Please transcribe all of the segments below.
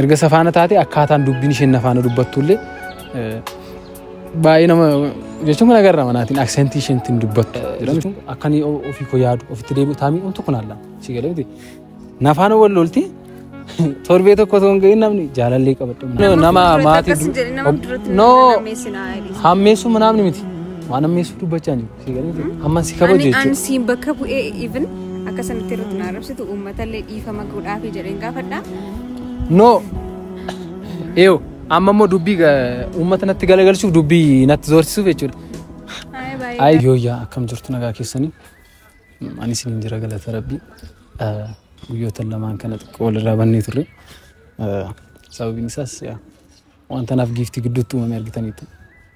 Erga safaana taate akkaataan dubbiin isheen nafaana dubbattullee baay'ee nama jechuun kan agarra manaatiin aksentii isheen ittiin dubbattu. Akkan ofii koo yaadu ofitti deebi'u taamii umtu kun alla si galee miti. Nafaana wal lolti torbee tokko osoo hin gahin namni jaalallee qabadhu. Nama maatii noo hammeessuu namni miti waan hammeessuu dubbachaa jiru. Si galee jira. Amma si kabaju Ani an jechuudha. siin bakka bu'ee even akka sanatti irratti na arrabsitu uummatallee dhiifama godhaafii jedheen gaafadha. No. Eeyo amma immoo dubbii ga- uummata natti galagalchuuf dubbii natti doorsisuuf jechuudha. Haaya baay'ee. Ayi yooyyaa akkam jirtu nagaa keessanii ani isiniin jira galata rabbii Eh, guyyoota lamaan kana xiqqoo walirraa bannee turre Eh, sababiin isaas yaa, wanta naaf giiftii gidduutti uumame argitaniitu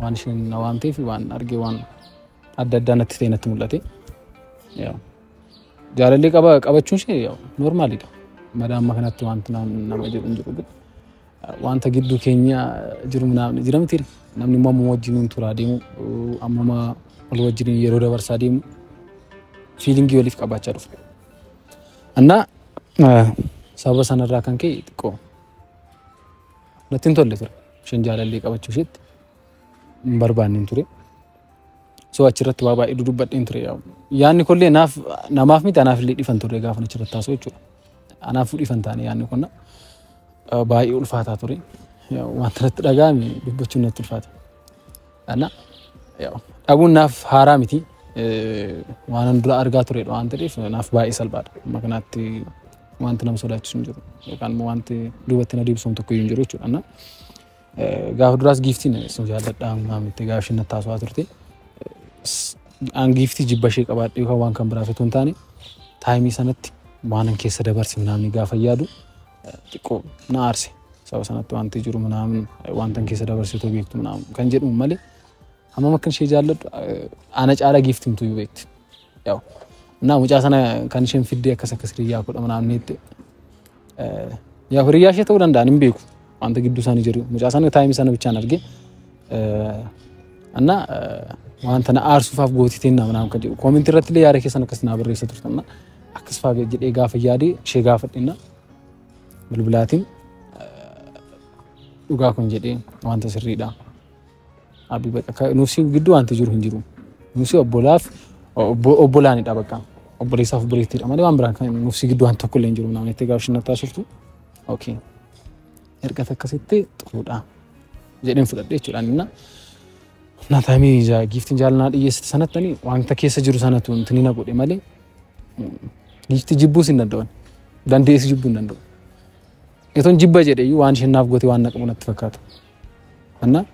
Waan isheen na waamtee fi waan argee waan adda addaa natti ta'e natti mul'ate. Jaalallee qaba qabachuun ishee noormaalidha. Madaa amma kanatti wanti nama jedhu hin jiru. Wanta gidduu keenya jiru jira miti. Namni immoo amma wajjin turaa deemu amma wal wajjin yeroo dabarsaa deemu fiilingii waliif qabaachaa dhufu. Annaa sababa sanarraa kan ka'e xiqqoo natti hin tolle ture. Isheen jaalallee qabachuu isheetti hin barbaanneen ture. So achirratti waa baay'ee dudubbadheen ture. Yaanni kunillee naaf namaaf miti anaaf illee dhifan ture gaafa achirratti haasoo jechuudha. Anaaf dhifan taane yaanni kun baay'ee ulfaataa ture. Wanta natti dhaga'ame dubbachuun natti ulfaata. Ana dhabuun naaf haaraa miti. Waanan dura argaa turedha waan ta'eef naaf baay'ee salphaadha. Amma kanaatti wanti nama sodaachisu hin jiru. Yookaan immoo wanti duubatti na deebisuun tokko hin jiru jechuudha. Gaafa duraas giiftiin sun jaalladhaa ammaa miti gaafa isheen natti haasawaa turte. An giiftii jibba ishee qabaadhe yookaan waan kan biraaf utuu hin taane taayimii sanatti waanan keessa dabarse namni gaafa yaadu xiqqoo na aarse sababa sanatti wanti jiru minaamin wantan keessa dabarsitoo beektu minaamin kan jedhuun malee hammam akkan ishee jaalladhu ana caala giiftimtu iyyuu beekti. Yaa'u minaa mucaa sana kan isheen fiddee akkas akkas hiriyyaa kudha minaamin jettee yaa'u hiriyyaa ishee ta'uu danda'an hin beeku wanta gidduu isaanii jiru mucaa sana taayimii sana bichaan argee እና wanta na aarsuufaaf gootiteen naa minaamin kan jedhu koomintii irratti illee yaada keessan akkas naa barreessa turtan. Akkas faa jedhee gaafa yaade ishee gaafadhenna bilbilaatiin dhugaa kun jedhee wanta sirriidha. Nuusii gidduu wanti jiru hin jiru. Nuusii obbolaaf obbolaanidha bakka. Obboleessaaf obboleettiidha malee waan biraan kan nuusii gidduu wanti tokko illee hin jiru. Namni itti gaafa shinna taasiftu. Okay. Erga akkasitti xuruudha. Jedheen fudhadhe jechuudhaan innaa. Naataamii giiftiin jaalanaa dhiyeessite sanatti wanta keessa jiru sanatu intinina godhe malee Giifti jibbuus hin danda'an. Dandeessi jibbuu hin danda'u. Etoon jibba jedhe iyyuu waan isheen naaf goote waan naqamu natti fakkaata. Anna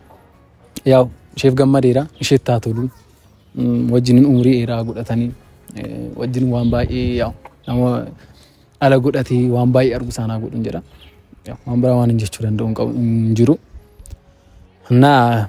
yaa isheef gammadeera isheef taa tolu mm, wajjin umurii dheeraa godhatanii eh, wajjin waan baay'ee yaa nama ala godhatee waan baay'ee argu isaanaa godhin jedha. Yaa, Waan biraa waan hin jechuu danda'u hin qabu- hin jiru. Anna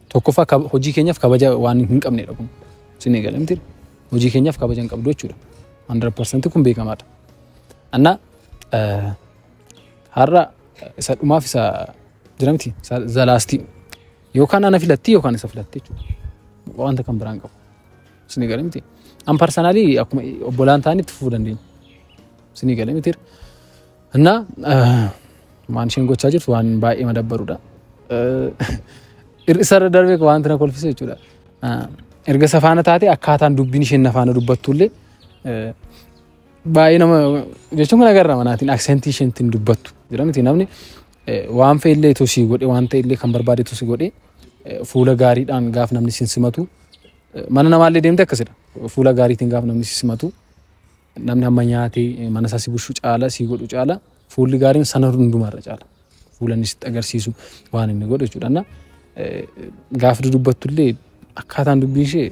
Tokkoffaa kab- hojii keenyaaf kabaja waan hin qabnedha kun. Isin eegale miti. Hojii keenyaaf kabaja hin qabdu jechuudha. 100% kun beekamaadha. Anna eh, har'a isa dhumaaf isa jira miti isa zalaastii yookaan ana filattii yookaan isa filatte jechuudha. Wanta kan biraan qabu. Isin eegale miti. An parsanaalii akkuma obbolaan ta'anitti fufuu dandeenya. Isin eegale miti. እና waan isheen gochaa jirtu waan baay'ee madabbarudha. Hir'isarra darbee wanti na kolfise jechuudha. Erga safaana taate akkaataan dubbiin isheen nafaana dubbattullee baay'ee nama jechuun kana garra manaatiin aksentii isheen ittiin dubbattu jira miti namni waan fe'illee tosii godhe waan ta'ellee kan barbaade tosii godhe fuula gaariidhaan gaaf namni sin simatu mana namaallee deemte akkasidha fuula gaariitiin gaaf namni sin simatu. Namni hamma nyaatee mana isaa si bushu caala, si godhu caala, fuulli gaariin sana hundumaa irra caala. Fuula inni sitti agarsiisu waan inni godhu jechuudha. Na gaafa dudubbattu illee akkaataan dubbii ishee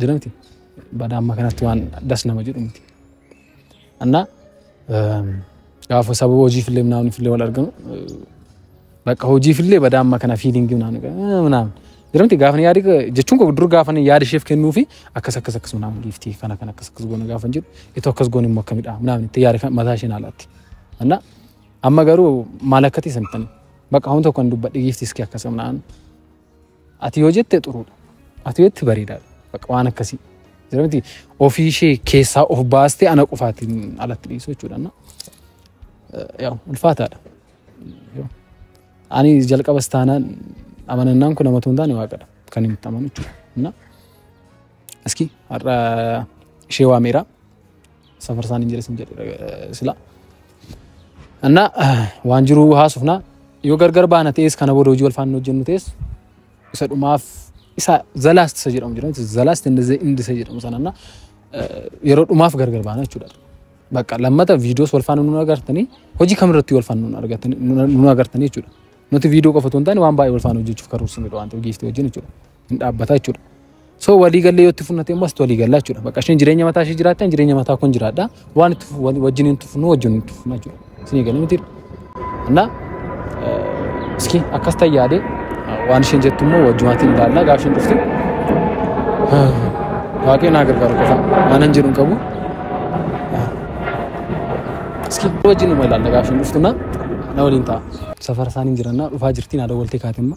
jira miti. Badaa amma kanatti waan das nama jedhu miti. Annaa Gaafa sababa hojiifillee naannifillee wal arginu bakka hojiifillee badaa amma kana fiilingii naannoo jedhamti gaafa yaadi jechuun koo dur gaafa yaada isheef kennuu fi akkas akkas akkas naaf giiftii kana kan akkas akkas goona gaafa jedhu itoo akkas goone immoo akkamidha naaf itti yaada kan mataa isheen haalaatti. Anna amma garuu maal akkati santan bakka hunda kan dubbadhe giiftii iski akkas naaf. Ati yoo jette xuruudha. Ati yoo jette bareedaadha. Bakka waan akkasii. Jira miti ofii ishee keessaa of baastee ana qofaatiin alatti dhiisuu jechuudha. na. Eh, Yaa ulfaataadha. Yoo. Ani jalqabas taanaan amanannaan kun nama tuun taane waaqadha. Kan inni itti amanu jechuudha. Na. Aski har'a ishee waameera. safarsaan hin jedhe sin jedhe sila anna waan jiru haasofna yoo gargar baana ta'es kana booda hojii wal faana hojjennu ta'es isa dhumaaf isa zalaast isa jedhamu jedhamu zalaast indi isa jedhamu sananna yeroo dhumaaf gargar baana jechuudha. Bakka lammata viidiyoos wal faana nun agartanii hojii kamirratti wal faana nun agartanii jechuudha. Nuti viidiyoo qofa otoo hin taane waan baay'ee wal faana hojjechuuf karoorsineedha waan ta'eef giiftii wajjin jechuudha. hin dhaabbata jechuudha. So walii gallee yoo itti funnate immoo asitti walii gallaa jechuudha. Bakka isheen jireenya mataa ishee jiraatte ani jireenya mataa kun jiraadha. Waan itti wajjin hin tufnu wajjin hin tufna jechuudha. Isinii galee miti. Annaa iski akkas ta'e yaadee waan isheen jettu immoo wajjumaatiin ilaallaa gaafa isheen dhufte. Waaqayyo naa gargaaru qofa waan hin jedhu qabu. Iski wajjin immoo ilaalla gaafa isheen dhuftu na waliin ta'a. Safara isaanii jirannaa dhufaa jirti naa dawwaltee kaatimma.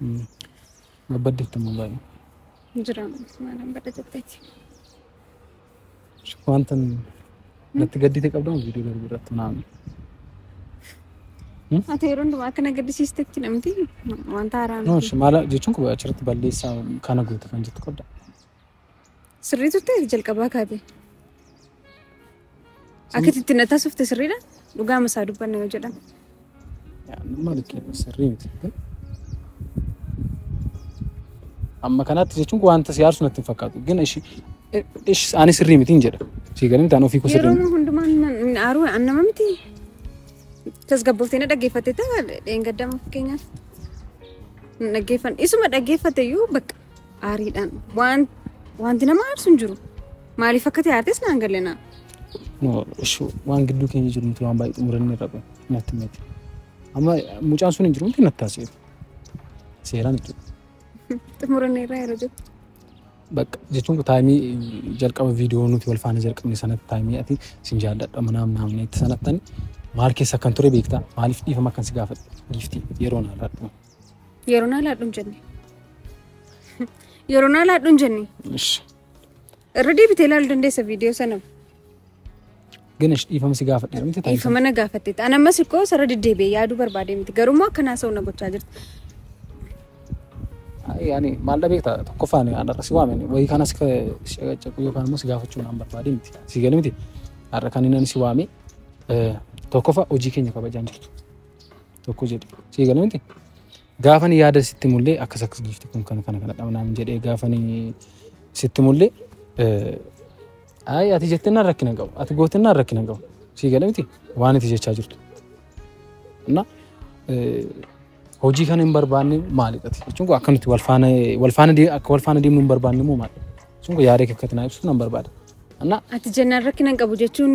Mm. Babbadde itti mul'atu. Jira maalan badda jetteeti. Wanta natti gaddite qabda moo viidiyoo darbe irratti naan. Ati yeroo hundumaa akka na gaddisiistetti namti wanta haaraa No, miti. shi- maala jechuun kun achirratti balleessaa kana goote kan jettu qabda. Sirrii turte ati jalqabaa kaate. Akkatti itti na taasifte sirriidha. Dhugaa masaa dubbanna yoo jedhan. Maal kennu sirrii miti. Amma kanaatti jechuun wanta si aarsu natti hin fakkaatu. Gina ishi ishi ani sirrii miti hin jedha. Si galim taan ofii kusa Yeroo hundumaa hin aaruu an nama miti. Tasgabbooftee na dhaggeeffatte ta'a dheengaddaama fakkeenyaaf. Hin dhaggeeffan. Isuma dhaggeeffatte iyyuu bakka Aariidhaan waan wanti nama aarsu hin jiru. Maaliif akka ta'e aartes naan galena. No, ishi waan gidduu keenya jiru miti waan baay'ee xumuranne irra qofa natti miti. Amma mucaan sun hin jiru miti natti taasisu. Seeraan jechuudha. Xumuranne irraa yeroo jettu. Bakka jechuun taayimii jalqaba viidiyoo nuti wal faana jalqabne sanatti taayimii ati sin jaalladha manaa naamna itti sanattan maal keessa kan ture beektaa maaliif dhiifama kan si gaafadhe giiftii yeroo naarraa dhuma. Yeroon haalaadhu hin jenne. Yeroon haalaadhu hin jenne. Irra deebitee ilaaluu dandeessa viidiyoo sana. Gana dhiifama si gaafadhe miti taasisa. Dhiifama na gaafatte. An ammas ikkoo sarara deddeebi'ee yaaduu barbaade miti. Garummaa akkanaa sa'u na gochaa jirti. Yaani maal dhabee ta'a tokkoffaan har'a si waame wayii kana si caqu yookaan immoo si gaafachuu naan barbaade miti. Si gale miti har'a kan inni si waame tokkoffa hojii keenya kabajaan jirtu. tokko jedhe sii galee miti gaafan yaada sitti mullee akkas akkas giifti kun kana kana kana dhabnaan jedhee gaafan sitti mullee ayi ati jettinnaan rakkina qabu ati gootinnaan rakkina qabu sii galee miti waan ati jechaa jirtu እና hojii kana hin barbaanne maalidha jechuun kun akkamitti wal faana wal faana akka wal faana deemnu hin barbaanne immoo maalidha jechuun kun yaada kee akkatti naa ibsuuf nan barbaada. Ati jennaan rakkina hin qabu jechuun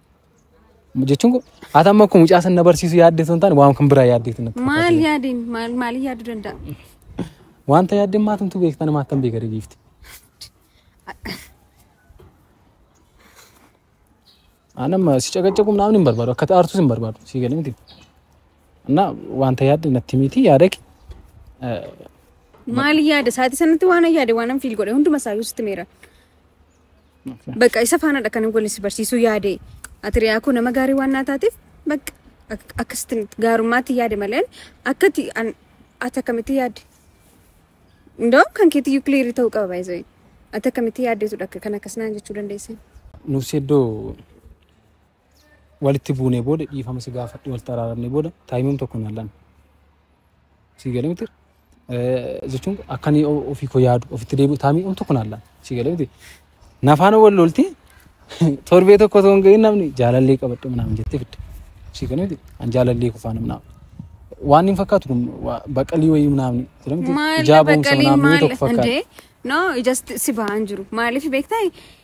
jechuun kun ati amma kun mucaa san na barsiisu yaaddee sun taane waan kan biraa yaaddeetu natti fakkaata. Maal yaadeen maal maaliin yaaduu danda'a? Wanta yaaddeen maatumtu beekta nama akkam beeka deebiifti. Ani amma si caqacaqu naamni hin barbaadu akka aartus hin barbaadu si galee miti. Annaa wanta yaadde natti miti yaada kee. Maaliin yaada sa'aatii sanatti waan yaade waan fiil godhe hunduma isaa sitti meera. Bakka isa faanaadha kan wal si barsiisuu yaade. Ati riyaa koo nama gaarii waan naa taateef bakka ak- akkasitti gaarummaatti yaade malee akka ati an- ati akkamitti yaadde. Ndoo kan keetti yuukiliirii ta'uu qaba baay'isee. Ati akkamitti yaaddeetudha akka kan akkas naan jechuu dandeessan. Nufsi iddoo walitti buunee booda dhiifama si gaafadhe walitti araaramne booda taayimam tokko naan lame. Sii galee miti jechuun akka inni ofii koo yaadu ofitti deebi'u taayimam tokko naan lame. Sii galee miti nafaan wal lolti torbee tokko osoo hin gahin namni jaalallee qabadhe naan jettee fidde. Sii galee miti an jaalallee kufaa namni waan hin fakkaatu kun baqalii wayii namni jedhamti ijaa boomsa namni tokko fakkaatu. No, ijasti si bahan jiru. Maaliif beektaa?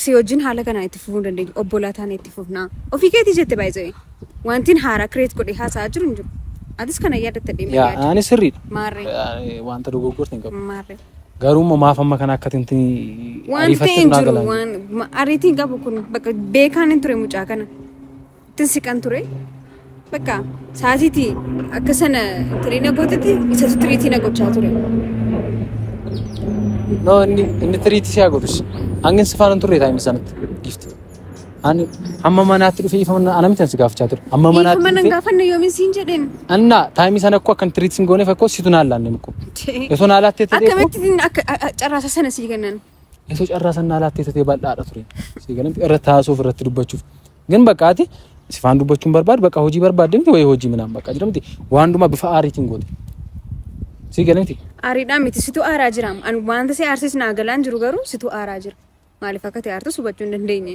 si wajjin haala kanaan itti fufuu hin dandeenyu. Obbolaa taane itti fufna. Ofii keetii jette baay'ee. Wantiin haaraa kireet godhee haasa'aa jiru hin jiru. Atis kana yaadatta deemee Yaa yaadi. ani sirriidha. Maarree. Ani Wanta dogoggorte hin qabu. Maarree. Garuu immoo maaf amma kana akka tinti Wanti ariifatte hin naa jiru galaan. waan ma- ariitiin qabu kun bakka beekaan hin ture mucaa kana. ittin siqan ture. Bakka saatiiti akka sana tirii na gootetti isatu tiriitii na gochaa ture. No, inni inni tiriitii siyaa godhus. Hangin si faana hin turre taa'imni sanatti. Giifti. Ani amma manaatti dhufee ifa mana anamitti si gaafachaa ture. Amma Dhiifama manaatti nan dhufee. gaafanne yoomin siin jedheen. Anna taa'imni sana akkoo akkan tiriitii sin gooneef akkoo situ naan laanne mukko. Osoo naa laattee ta'e Akkamitti akka a- a- carraasa sana sii kennan? Osoo carraa san naa laattee tatee bal'aadha ture. Sii galan irratti haasuuf irratti dubbachuuf. Gin bakka ati sifaan dubbachuun barbaadu bakka hojii barbaadde miti wayii hojii minaan bakka jira miti. Waan hundumaa bifa aariitiin goote. Sii galan miti. Aariidhaa miti situ aaraa jiraam. An wanta si aarsis naa galaan jiru garuu situ aaraa jira. Maaliif akka ta'e aartus hubachuu hin dandeenye.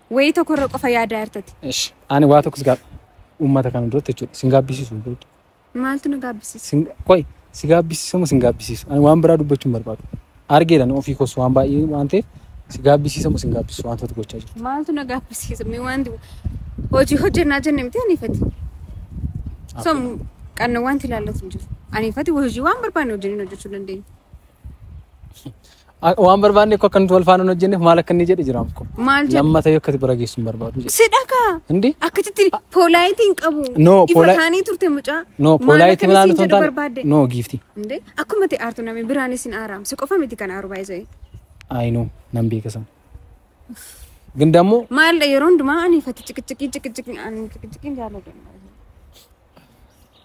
Wayii tokko irra qofa yaadaa jirtati. Ish, ani waa tokkos gaab uummata kana duratti jechuudha. Sin gaabbisiisu hin beektu. Maaltu na gaabbisiisa? Sin qoy si gaabbisiisu moo sin gaabbisiisu? Ani waan biraa dubbachuu hin barbaadu. Argeedhan ofii koos waan baay'ee waan ta'eef si gaabbisiisa moo sin gaabbisiisu wantoota gochaa jirtu. Maaltu na gaabbisiisa? Mee waan du- hojii hojjennaa jenne miti aniifati. So qanna wanti ilaallatu hin jiru. Aniifati hojii waan barbaanne hojjennee hojjechuu dandeenya. A- Waan barbaanne koo akka nuti wal faana hin hojjenneef maal akka inni jedhe jiraam koo. Maal jedhe? Lammata yoo akkati bira geessu hin barbaadu jedhe. Sidha kaa. Hindi? Akkasitti poolaayitii hin qabu. No, Ifa poolaa- taanii turte mucaa. No, Maal poolaayitii akkan milaan isin osoo hin jedhu taane. barbaadde? No, giifti. Inde akkuma ta'e aartu namni biraan isin aaraam. Si qofa miti kan aaru baay'ee. Ayi no, nan beeka sana. Gin dammoo Maal yeroo hundumaa ani fati ciqiciqii ciqiciqii ani ciqiciqii jaalladha.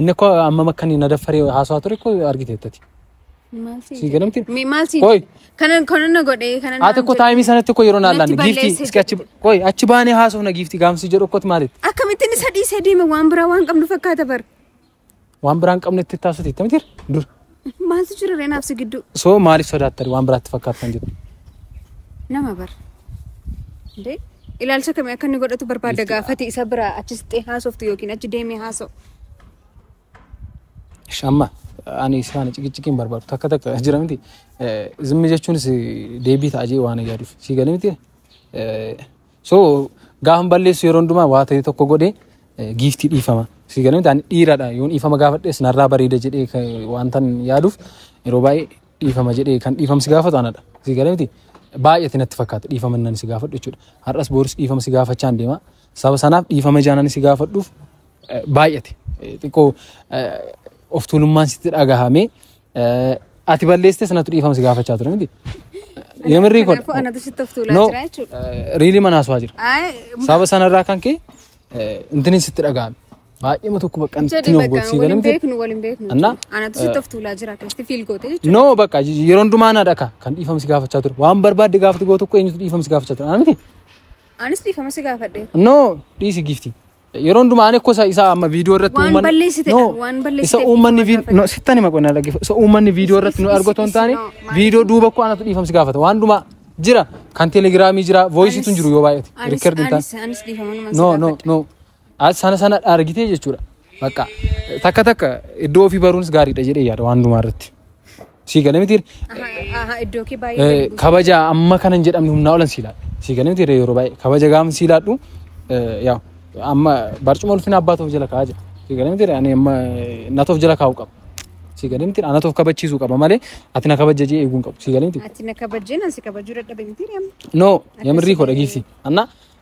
Inni koo amma makka ni nadaffaree haasawaa ture koo argiteettati. Maal si Sii galamti? Mi- Maal si Qoy. kanan kanan na godhe kanan Haati koo taa'imii sanatti koo yeroo naan Natti laanne giifti balleesse iski achi qoy achi baanee haasofna giifti gaamsi jedhu kootu maalitti akkamittiin isa dhiisee deeme waan biraa waan qabnu fakkaata bar. waan biraan qabnetti taasisa itti mitiir dur Maaltu jira ree naaf si gidduu? Soo maaliif sodaattani waan biraatti fakkaattan jirtu? Nama bar. Dee ilaalcha kamii akka inni godhatu barbaadda Giifti- gaafati isa biraa achi siqxee haasoftu yookiin achi deemee haasa'u. Ish, Amma ani si faana ciqiciqii hin barbaadu takka takka jira miti. Eh, Zimmi jechuunis eh, deebii ta'a jee waan yaaduuf si galee miti. Eh, So gaafan balleessu yeroo hundumaa waa ta'e tokko godhe giiftii dhiifama. Si galee ta'an dhiiradha yoon dhiifama gaafadhes narraa bareeda jedhee wanta yaaduuf yeroo baay'ee dhiifama jedhee kan dhiifama si gaafatu anadha. Si galee miti baay'eetti natti fakkaata dhiifama nan si gaafadhu jechuudha. Har'as booris dhiifama si gaafachaa hin deema. Saba sanaaf dhiifama jaanan si gaafadhuuf baay'ate xiqqoo of tuulummaan sitti dhagahamee Ati balleessitee sanatu dhiifama si gaafachaa ture miti. Yemirrii kun. Kanaafuu anatu sitti of tuulaa No. jira jechuudha. Riilii mana haasawaa jira. Ay, Sababa sanarraa kan ka'e intinin sitti dhaga'ame. Baay'eema tokko bakka jedhi intinin of bakka godhsii waliin galamte. beeknu waliin beeknu. Anna? jechuudha. Anatu sitti of tuulaa jira keessatti fiil gootee jechuudha. No bakka yeroo hundumaa na dhaka kan dhiifama si gaafachaa ture. Waan barbaadde gaafatu goo tokko eenyutu dhiifama si gaafachaa ture. Ana miti. Anis dhiifama si gaafadhe. No dhiisi giifti. Yeroo hundumaa ani kosa isaa amma viidiyoo irratti Waan uummanni- balleessite No, qabu, waan balleessite isa qabu uummanni waan viid- gaafate. no, sittan hima qonna dhaggeeffa. Isa uummanni viidiyoo irratti nu Is- is- argatu hin is- taane no, maaliif? viidiyoo duuba koo anatu dhiifamsi gaafata. Waan hundumaa jira kan telegiraamii jira voiisiitu hin jiru yoo baay'ate. Anis- Rikkard hin taane. anis- anis dhiifama numan si No no gaafadha. no. As sana sana argitee jechuudha. Bakka takka takka iddoo ofii baruunis gaariidha jedhee yaada waan hundumaa irratti. Sii galee miti Iddoo kee baay'ee. kabaja amma kana hin jedhamne humnaa olan sii laadhu. Sii galee miti yeroo baay'ee kabaja gaafa sii laadhu yaa amma barcuma ulfina abbaa ta'uuf jala kaa'aa jira. Sii galee miti ani amma natoof jala kaa'uu qaba. Sii galee miti anatoof kabachiisuu qaba malee ati na kabaja jee eeguu hin qabu. Sii galee miti. Ati na kabajjeen asi kabajuu dadhabe miti deemu. No, Akkasii yamirrii koo ta'ee. dhageessi. Anna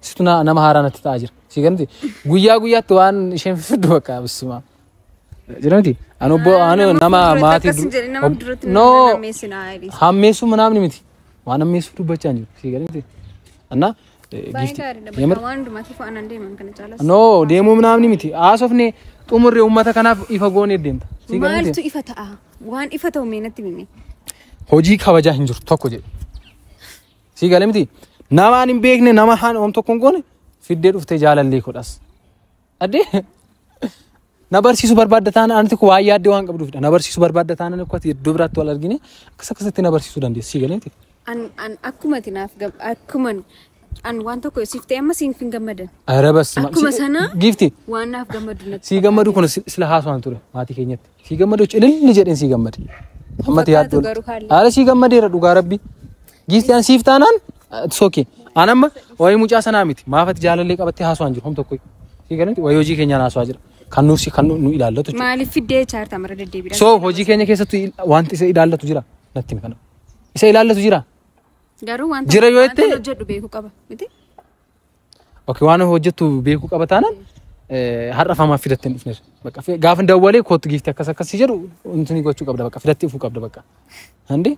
Situ na- nama haaraa natti ta'aa jira. Si ganti guyyaa guyyaatti waan isheen fiddu bakka bisima. Jiranti ani obbo ani nama maatii du- ob- no hammeessuu manaamni miti waan hammeessuu dubbachaa jiru si ganti. Anna giifti yamir no deemuu manaamni miti haasofne xumurre uummata kanaaf ifa goonee deemta. Si ganti Maaltu ifa ta'a? Waan ifa ta'u mee natti himi. hojii kabajaa hin jiru tokko jedhe. Sii galee miti. Namaan hin beekne nama haan oom tokkoon goone fiddee dhuftee jaalallee kodhas. Addee na barsiisu barbaadda taana ani tokko waa yaaddee waan qabduufidha. Na barsiisu barbaadda taana ni akkati iddoo biraatti wal argine akkas akkasitti na barsiisuu dandeessi. Sii galee miti. An an akkuma ati naaf gab akkuma an waan tokko siif ta'e amma siif hin gammadan. Arabas. Akkuma sana Giifti. Waan naaf gammadu natti. Sii gammadu kun sila haasawaan ture maatii keenyatti. Sii gammadee cililli jedheen sii gammade. Ammati yaaddoon. Haala sii gammadeera dhugaa rabbi. Giifti an siif taanaan soke. An amma waa'ee mucaa sanaa miti. Maafati jaalallee qabattee haasawaan jiru homta koi. Sii galatti waa'ee hojii keenyaa haasawaa jira. Kan nuuf si kan nu ilaallatu jechuudha. Maaliif fiddee chaarta mara deddeebiidhaan. So hojii keenya keessatti wanti isa ilaallatu jira. Natti himi kana. Isa ilaallatu jira. Garuu wanta Jira yoo jette- hojjedhu beeku qaba. Miti? Ok waan hojjettu beekuu qaba taanaan eh, har'a famaa fidattee hin dhufneef. Bakka fi- gaafa hin dawwalee kootu giifti akkas akkas si jedhu intini gochuu qabda bakka fidattee dhufuu qabda bakka. Handi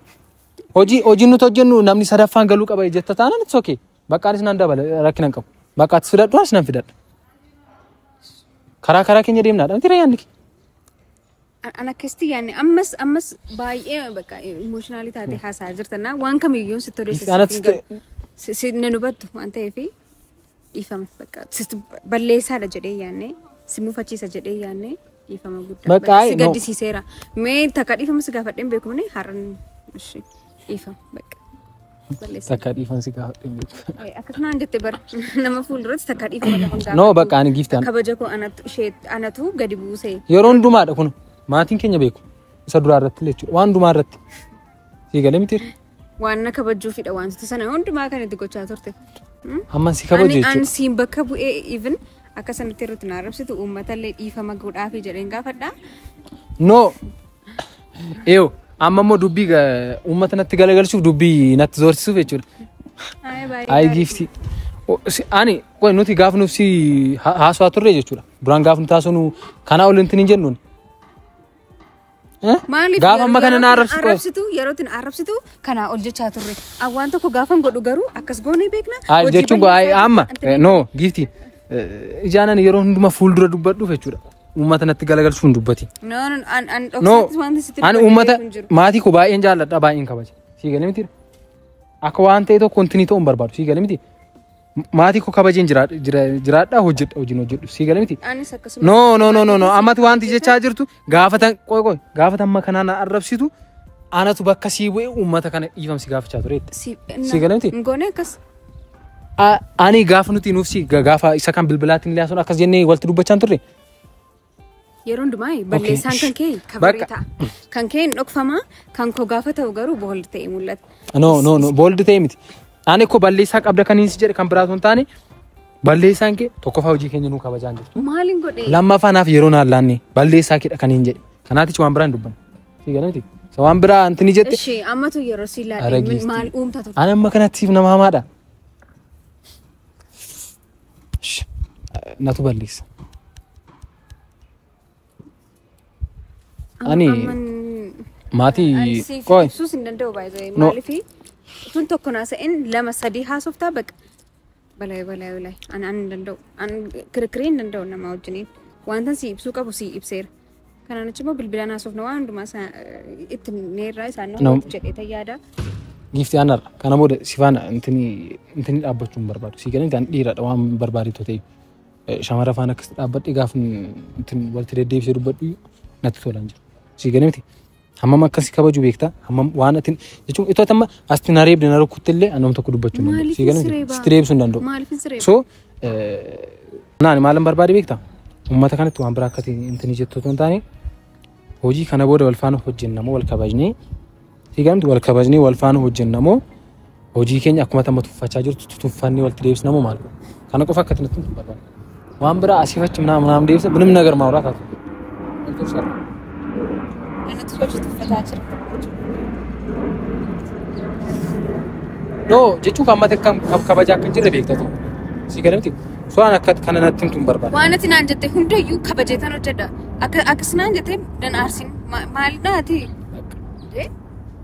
hojii hojiin nuti hojjennu namni sadaffaan galuu qaba jetta taanaan it's okay. Bakka anis nan dabala rakkina hin qabu. Bakka atis fidadhu anis nan fidadha. Karaa karaa keenya deemnaadha. Miti rayyaanni kee. An- an akkasitti yaanne ammas ammas baay'ee bakka emotionally taatee haasaa jirta na waan kamiyyuu sitti odeessa Misgaanaa sitti hin galu si si- na dubattu waan ta'eef dhiifama bakka sitti balleessaadha jedhee yaanne si mufachiisa jedhee yaanne dhiifama guddaa Bakka bakka ayi, si no. gaddisiiseera mee takka dhiifama si gaafadheen beekumne har'an ishee dhiifama bakka. Takka dhiifan si gaafadhe beeku. Akka kanaan jette bar nama fuulduratti takka dhiifama qaban gaafadhu. No bakka ani giiftaan. Kabaja koo anatu ishee anatu gadi buuse. Yeroo hundumaadha kun maatiin keenya beeku. Isa duraa irratti illee jechuudha. Waan hundumaa irratti. Sii galee miti. Waan na kabajuufidha wantoota sana hundumaa kan itti gochaa turte. Amma si kabaju Ani an jechuudha. siin bakka bu'ee even akka sanatti irratti na arrabsitu uummata illee dhiifama godhaafi jedheen gaafadha. No Eeyo amma immoo dubbii ga- uummata natti galagalchuuf dubbii natti zoorsisuuf jechuudha. Ayi baay'ee Ayi gaarii. giiftii. O- si- Ani qoy nuti gaaf nuuf si ha- haasawaa turre jechuudha. Duraan gaaf nuti haasawnu kanaa ol hin jennuun. Maaliif Gaafa amma kana na arrabsitu qoy. arrabsitu yeroo itti na arrabsitu kanaa ol jechaa turre. An waan tokko gaafan godhu garuu akkas goonee beekna. Ayi Hojii jechuun koo ayi balleessaa amma jechaa- amma no giiftii. Ijaanan yeroo hundumaa fuuldura dubbadhuuf jechuudha. uummata natti galagalchuu hin dubbati. No, no, an, an No, dhoksaattis wanti sitti ani dubbadhee uummata beeku hin jiru. maatii koo baay'een jaalladha baay'een kabaja. Sii galee miti. Akka waan ta'e tokko wanti ni ta'u hin barbaadu. Sii galee miti. Maatii koo kabajeen jiraadha jira- jiraadha hojjedha hojiin hojjedhu. Sii galee miti. Anis akkasuma. No no no no no ammatti wanti jechaa jirtu gaafatan qoy qoy gaafatan amma kanaan na arrabsitu anatu bakka sii bu'e uummata kana dhiifamsi gaafachaa tureetti. Si, Sii galee miti? Hin goone akkas. A- Ani gaafa nuti nuuf si ga- gaafa isa kan bilbilaatiin illee haasofnu akkas jennee walitti dubbachaan turre. Yeroo hundumaa balleessaan kan kee kabaree Bakka- ta'a. Kan kee hin dhokfamaa, kan koo gaafa ta'u garuu booldi ta'e mul'ata. No no no booldi ta'e miti. Ani koo balleessaa qabda kan hin si jedhe kan biraa osoo hin taane balleessaan kee tokkoffaa hojii keenya nuu kabajaan jirtu. Maaliin godhee? Lammaffaa naaf yeroo naan laanne balleessaa keedha kan hin jedhe. Kanaatichi waan biraa hin dubbanne. Si galati. Sa waan biraa anti ni jette. Ishee ammatu yeroo si Ara laadhe giiftii. maal uumta turte? Ani amma kanatti siif nama hamaadha. Shh. Natu balleessa. Ani Amman- maatii ani siif qoy. ibsuus hin danda'u baay'ee No. maaliif tun tokko naasa'in lama sadii haasoftaa baqa Walaay walaay walaay an an hin danda'u an kirkirii hin danda'u namaa wajjiniin wantan si ibsuu qabu si ibseera kanaan achi immoo bilbilaan haasofna waan hundumaa isaa eh, itti neerraa isaan nama Nam- walitti jedhee tayyaada Giifti aanar kana booda si faana intini intini dhaabbachuu hin barbaadu. Si galan kan dhiiradha waan barbaaditu ta'e. Eh, Shamara faana akkasitti dhaabbadhe gaafa intini walitti deddeebisee dubbadhu natti tolaan jira. Si galan miti Hammam akka si kabaju beektaa? Hammam waan ati jechuun itoo amma asti na reebde na rukkutte illee annoom tokko dubbachuu hin danda'u. Sii galan sitti reebsuu hin danda'u. Maaliifin si reeba? So naani maalan barbaade beektaa? Uummata kanatti waan biraa akkati intini jettu otoo hin taane hojii kana booda wal faana hojjenna moo wal kabajnee sii galamti wal kabajnee wal faana hojjenna moo Hojii keenya akkuma tamma tuffachaa jirtu tutuffanni walitti deebisna moo maal? Kana qofa akka tinatti hin barbaadu. Waan biraa asii fachi minaa minaan deebisa minum nagar maa waraata. Anatu hojii tuffataa jira. Noo jechuun kan mata kam kab- kabaja akka hin jirre beekta ta'u. Si galamti. Suuraan akka kana natti himtu hin barbaadu. Waan ati naan jette hundayyuu kabajeetan hojjedha. Akka akkas naan jette dan aarsin maal naati?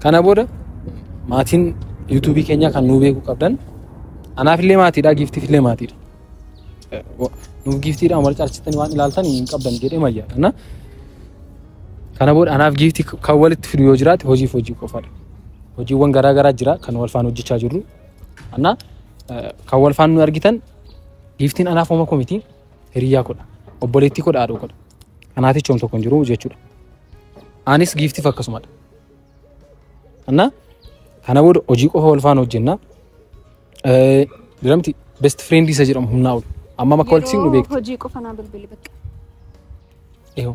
Kana booda maatiin yuutuubii keenyaa kan nuu beekuu qabdan anaafillee maatiidha giiftiifillee maatiidha. Eh, wa- Nuuf giiftiidha wal caalchitanii waan ilaaltan hin qabdan jedhee mayyaa. Kana kana booda anaaf giiftii kan walitti fidu yoo jiraate hojiif hojii qofaadha. Hojiiwwan garaa garaa jira kan wal faana hojjechaa jirru. Anna kan wal faana nu argitan giiftiin anaaf homa komiti. hiriyyaa kodha obboleettii kodha haadhoo kodha kanaatichi hom tokko hin jiru jechuudha anis giiftiif akkasumadha annaa kana booda hojii qofa wal faana hojjenna diramti best friend isa jedhamu humnaa ol amma makka wal siin beektu hojii qofa naa bilbili bakka eewu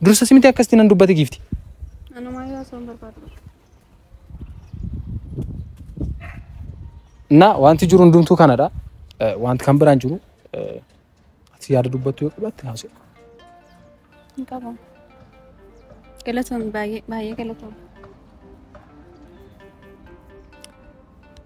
Dursa simiti akkasitti nan dubbate giifti. Na wanti jiru hundumtuu kanadha. Eh, wanti kan biraan jiru eh, ati yaada dubbattu yoo qabaatte haasoo. Hin qabu. Galatoon baay'ee baay'ee galatoon.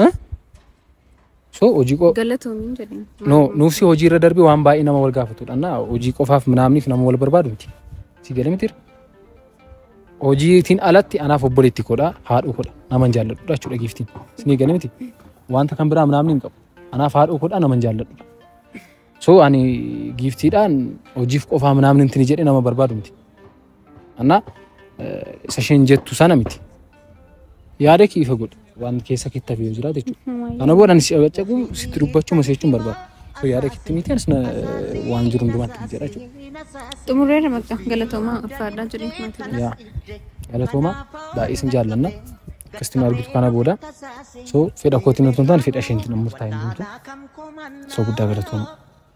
Ha? So hojii qo Galatoomiin jedheen. no nuuf si hojii irra darbe waan baay'ee nama wal gaafatudha na hojii qofaaf minaamniif nama wal barbaadu miti si galee miti hojiitiin alatti anaaf obboleetti koodha haadhoo koodha nama hin jaalladhudha jechuudha giiftiin si galee miti wanta kan biraa minaamni hin qabu anaaf haadhoo koodha nama hin jaalladhudha So ani giiftiidhaan hojiif qofaa namni intini jedhe nama barbaadu miti. Annaa isa isheen jettu sana miti. Yaada kee ifa godhi waan keessa keetti hafee jira jechuudha. Kana booda ani si dhagacaqu sitti dubbachuu maseechuun barbaada. So yaada keetti miti anis waan jiru hundumaatti miti jedha jechuudha. Xumurreera maqaa galatoomaa ulfaadhaa jedhee maatii. Yaa galatoomaa baay'ee isin jaallanna. Kiristiinaa argitu kana booda so fedha kootiin otoo hin taane fedha isheetiin murtaa'e hundumtu so guddaa galatooma.